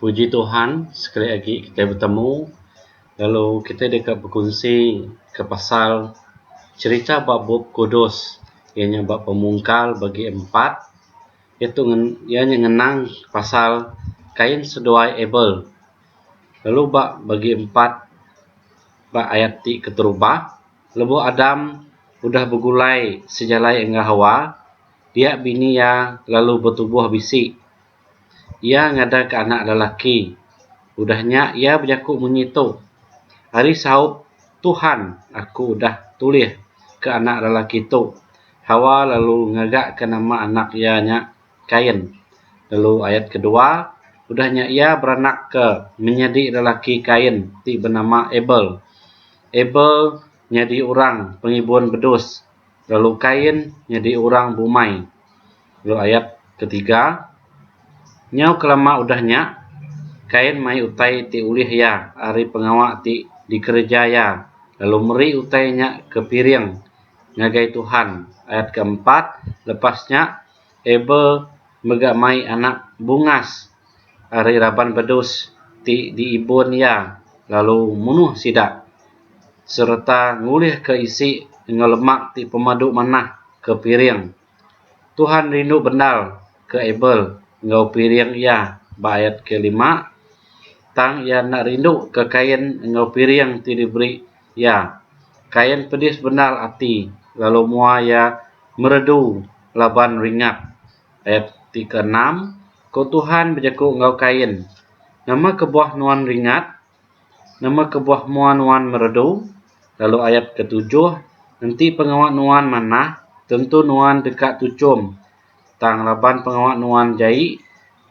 Puji Tuhan sekali agi kita betemu lalu kita deka bekunsi ke pasal cherita ba Bup Kudus iya nya ba Pemungkal bagi empat iya tu iya nya ngenang pasal Kain seduai Abel lalu ba bagi empat ba ayat ti keterubah lebuh Adam udah begulai sejalai enggau Hawa Pia bini iya lalu betubuh bisi. Iya ngadaka anak lelaki. Udah nya iya bejaku munyi tu, Ari saup Tuhan aku udah tulih ke anak lelaki tu. Hawa lalu ngagaka nama anak iya nya Kain. Lalu ayat kedua, udah nya iya beranakka menyadi lelaki Kain ti benama Abel. Abel. nyadi orang pengibun bedus lalu Kain nyadi orang bumai. Lalu ayat ketiga, Nyau kelama udah nya, Kain mai utai ti ulih iya ari pengawa ti dikereja iya lalu meri utai nya ke piring ngagai Tuhan. Ayat keempat, Lepas nya, Abel mega mai anak bungas ari raban bedus ti diibun iya lalu munuh sida sereta ngulihka isi enggau lemak ti pemadu manah ke piring. Tuhan rindu bendar ke Abel enggau piring iya ba ayat kelima, tang iya enda rinduka Kain enggau piring ti diberi iya. Kain pedis bendar ati lalu mua iya meredu laban ringat. Ayat ti keenam, Ku Tuhan bejaku enggau Kain, Nama kebuah nuan ringat? Nama kebuah mua nuan meredu? Lalu ayat ketujuh, Enti pengawa nuan manah, tentu nuan deka tuchum, tang laban pengawa nuan jai,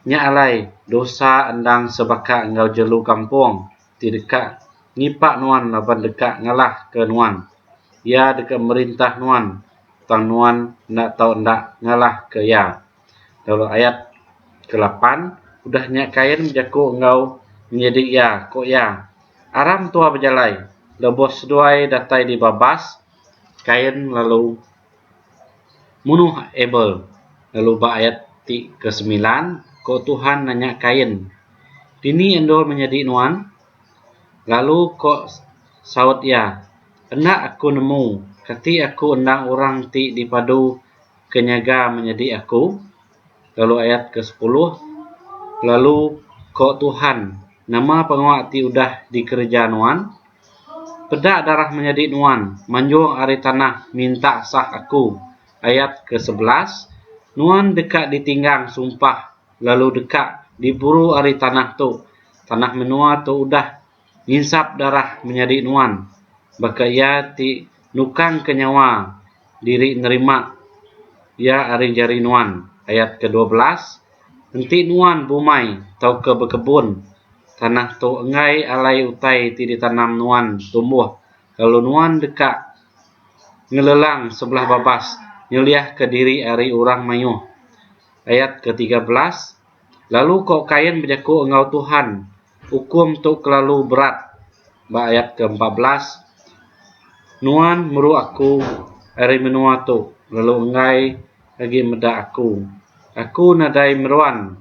nya alai dosa endang sebaka enggau jelu kampung. ti deka ngipak nuan laban deka ngalahka nuan. Iya deka merintah nuan, tang nuan enda tau enda ngalahka iya. Lalu ayat kelapan, Udah nya Kain bejaku enggau menyidi iya, ku iya, Aram tua bejalai, lebuh seduai datai di babas, Kain lalu. Munuh Abel, lalu ba ayat ti ke semilan, ko Tuhan nanya Kain, Dini endur menyadi nuan? Lalu ko saut iya, Enda aku nemu, kati aku endang orang ti dipadu ke nyaga menyadi aku? lalu ayat ke sepuluh lalu ko Tuhan nama pengawa ti udah di kereja nuan peda darah menyadi nuan manjung ari tanah minta sah aku ayat ke sebelas nuan deka di tinggang sumpah lalu deka di buru ari tanah tu tanah menua tu udah nginsap darah menyadi nuan baka iya ti nukangka nyawa diri nerima iya ari jari nuan, ayat kedua belas, enti nuan bumai tauka bekebun, tanah tu enggai alai utai ti ditanam nuan tumbuh, lalu nuan deka ngelelang sebelah babas nyeliahka diri ari orang mayuh, ayat ketiga belas, lalu ko Kain bejaku enggau Tuhan, Ukum tu kelalu berat ba ayat ke empat belas, Nuan meru aku ari menua tu lalu enggai agi meda aku. Aku nadai meruan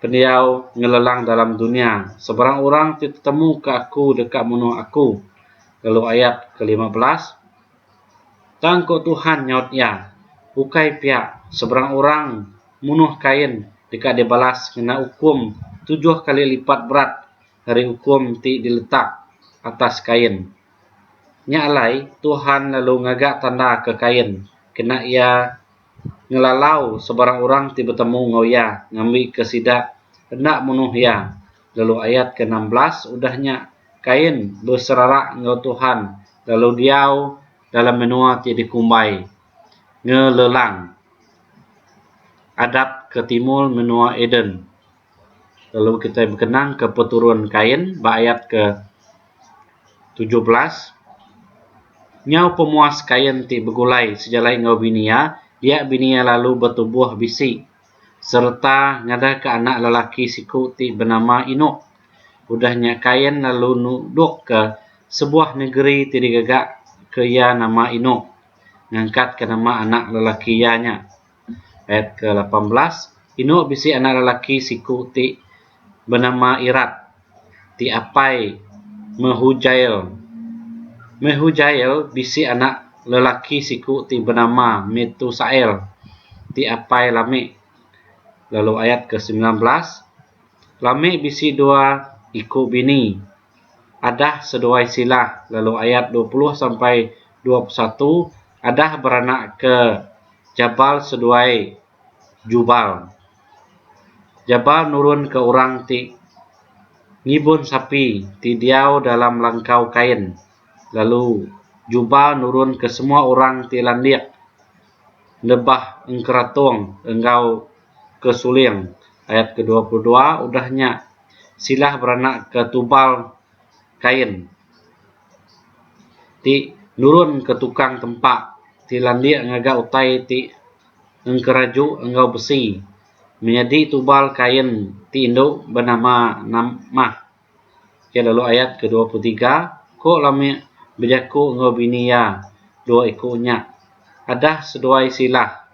pendiau ngelelang dalam dunya, sebarang orang ti tetemuka aku deka munuh aku. Lalu ayat ke lima belas. Tang ko Tuhan nyaut iya, Ukai pia, seberang orang munuh Kain deka dibalas ngena ukum tujuh kali lipat berat ari ukum ti diletak atas Kain. Nya alai, Tuhan lalu ngaga tanda ke Kain kena iya ngelalau sebarang orang ti betemu enggau iya ngambika sida enda munuh iya. lalu ayat ke enam belas udah nya Kain beserarak enggau Tuhan lalu diau dalam menua ti dikumbai Ngelelang adat ke timul menua Eden. Lalu kitai bekenang ke peturun Kain ba ayat ke tujuh belas nyau pemuas Kain ti begulai sejalai enggau bini iya, dia bini iya lalu betubuh bisi sereta ngadaka anak lelaki siku ti benama Enok. Udah nya Kain lalu nudukka sebuah negeri ti digaga ke iya nama Enok ngangkatka nama anak lelaki iya nya. Ayat ke lapan belas, Enok bisi anak lelaki siku ti benama Irat. ti apai Mehujael. Mehujael bisi anak lelaki siku ti benama Metusael ti apai Lame. Lalu ayat ke semilan belas, Lame bisi dua iku bini, Adah seduai Silah. Lalu ayat dua puluh sampai dua puluh satu, Adah beranakka Jabal seduai Jubal. Jabal nurunka orang ti ngibun sapi ti diau dalam langkau kain, lalu Jubal nurunka semua orang ti landik nebah engkeratung enggau ke suling. Ayat kedua puluh dua, Udah nya, Silah beranakka Tubal Kain ti nurunka tukang tempa ti landik ngaga utai ti engkeraju enggau besi menyadi tubal kain ti indu benama namah. Ke lalu ayat ke dua puluh tiga, ko Lamik bejaku enggau bini iya dua iku nya, Adah seduai sila,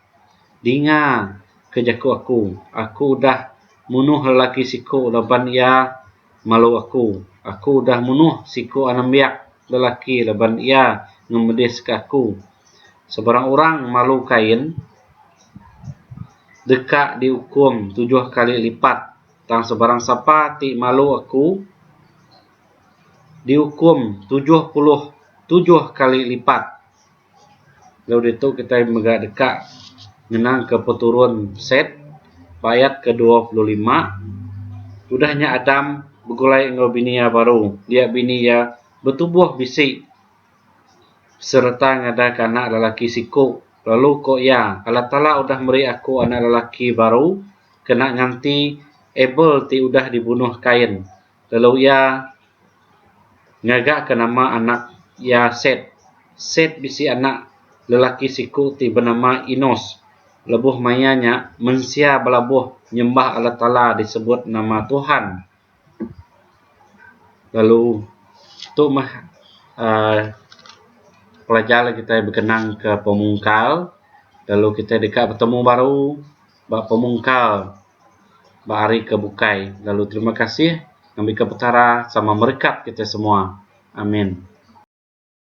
dinga ke jaku aku, aku udah munuh lelaki siku laban iya malu aku. Aku udah munuh siku anembiak lelaki laban iya ngemediska aku. Sebarang orang malu Kain deka diukum tujuh kali lipat, tang sebarang sapa ti malu aku diukum tujuh puluh tujuh kali lipat. Lalu ditu kitai mega deka ngenangka peturun Set ba ayat kedua puluh lima. Udah nya Adam begulai enggau bini iya baru. Dia bini iya betubuh bisi sereta ngadaka anak lelaki siku. Lalu ku iya, Allah Taala udah meri aku anak lelaki baru kena nganti Abel ti udah dibunuh Kain. lalu iya ngaga ke nama anak iya Set. Set bisi anak lelaki siku ti benama Enos. Lebuh maya nya mensia belabuh nyembah Allah Taala disebut nama Tuhan. Lalu tu meh aaa pelajar kitai bekenang ke pemungkal lalu kitai deka betemu baru. ba pemungkal ba hari ke bukai lalu terima kasih ngambika petara sama merekat kita semua amin.